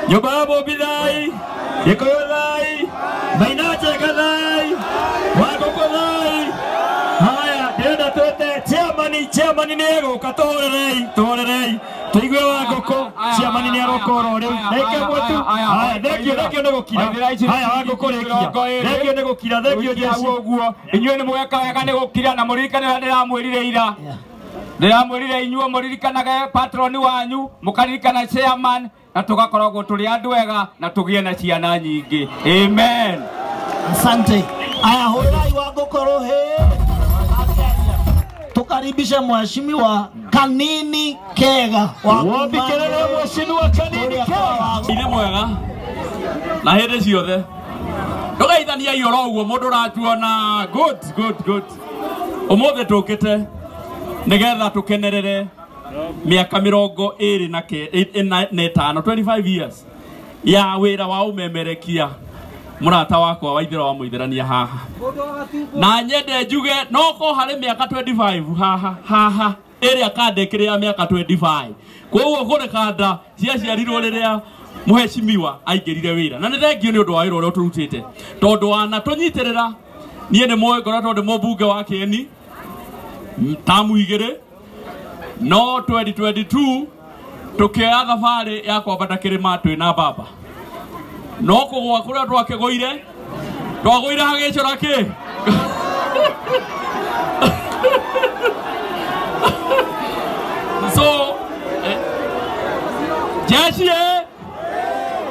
nyũmba ya mũmbi thai gĩkũyũ thai mainacheka thai wangũkũ thai haya ndĩrenda twĩte chiamani chiamani nĩ egũka tũhorerei tũhorerei tũigue wangũkũ chiamani nĩ aroka oro rĩu reke mwetu haya thengio thengio nĩ gũkira haya wangũkũ rĩkia thengio nĩ gũkira thengio jesu ũguo inyuĩ nĩ mweka wega nĩ gũkira na mũririkane ũrĩa ndĩramwĩrire ira ndiramwirire inyuo muririkanage patroni wanyu mukaririkana chairman na tugakoragwo turi andu ega na tugie na ciana nyingi amen Asante. Aya, hurrai wako korohe. Tukaribishe mheshimiwa Kanini Kega wa Wapi kelele ya mheshimiwa Kanini Kega? nä mwega na hä ndä ciothe ndå geithaniai oro å guo må ndå ratuona good good good Ũmũthĩ tũkĩte nĩgetha tũkenerere mĩaka mĩrongo ĩrĩ na ke- ĩ- ĩna- na ĩtano 25 years ya wĩra wa ũmemerekia mũrata wakwa wa ithĩra wa mũithĩrania haha na nyende njuge noko harĩ mĩaka 25 haha haha ĩrĩa kande ĩkĩrĩ ya mĩaka 25 koguo kũrĩ kanda ciaciarirwo rĩrĩa mũhecimiwa aingĩrire wĩra na nĩ thengio nĩ ũndũ wa wĩra ũrĩa ũtũrutĩte tondũ wana tũnyitĩrĩra niĩ nĩ mũĩ ngoretwo ndĩ mũmbunge wa kĩeni tamu igĩrĩ no 2022 tũkĩoya thabarĩ ya kwambata kĩrĩma twĩ na baba no kũgwa kũrĩa twakĩgũire twagũire hagĩcora kĩ so eh, jeshi eh,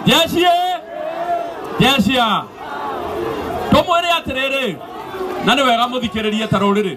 jeshi eh, jeshi ah. tũmwĩre atĩrĩrĩ na nĩ wega mũthikĩrĩrie ta rũrĩrĩ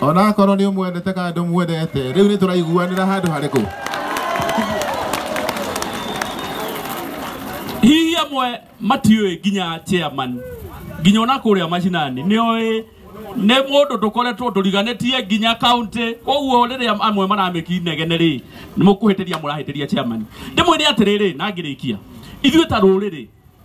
onakorwo nä å mwendete kana ndå mwendete rä u nä tå raiguanä ra handå harä kå hihi amwe matiũĩ nginya chairman nginya ona kũrĩa macinani nĩoĩ nĩ mũndũ tũkoretwo tũriganĩtie nginya kaunti koguo rĩrĩa amwe maramĩki negene rĩ nĩ mũkũhĩtĩria mũrahĩtĩria chairman ndĩmwĩre atĩrĩrĩ na ngĩrĩkia ithuĩ ta rũrĩrĩ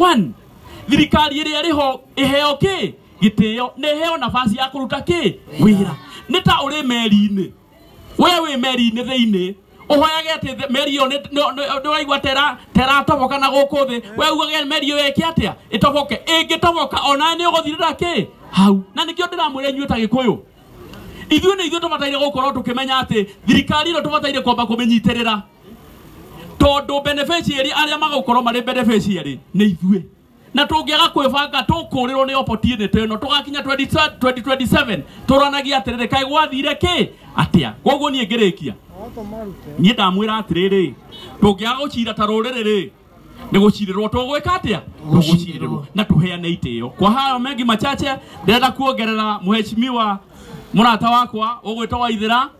One, thirikari ĩrĩa ĩrĩ ho ĩheo kĩ gĩtĩo na ĩheo nafasi ya kũruta kĩ wĩra nĩ ta ũrĩ meri-inĩ we wĩ meri-inĩ thĩinĩ ũhoyage atĩ thĩ- meri ĩyo nĩ- nĩ- nĩ- ndũraigua tera teratoboka na gũkũ thĩ we ugage meri ĩyo ĩke atĩa ĩtoboke ĩngĩtoboka ona nĩ ũgũthirĩra kĩ hau na nĩkĩo ndĩramwĩra inyuĩ ta gĩkũyũ ithuĩ nĩ ithuĩ tũbataire gũkorwo tũkĩmenya atĩ thirikari ĩno tũbataire kwamba kũmĩnyitĩrĩra tondå beneficiary arĩa magåkorwo marĩ beneficiary nĩ ithuĩ na tũngĩaga kwĩbanga tũkũrĩrwo nĩ opportunity ĩno tũgakinya 20 2027 tũranagia atĩrĩrĩ kaĩ gwathire kĩ atĩa koguo niĩ ngĩrĩkia niĩ ndamwĩra atĩrĩrĩ tũngĩaga gũcira ta rũrĩrĩ rĩ nĩ gũcirĩrwo tũgwĩka atĩa tũgũcirĩrwo na tũheane itĩo kwa hayo mengi machache ndĩrenda kuongerera mheshimiwa mũrata wakwa ũgwĩtwo waithĩra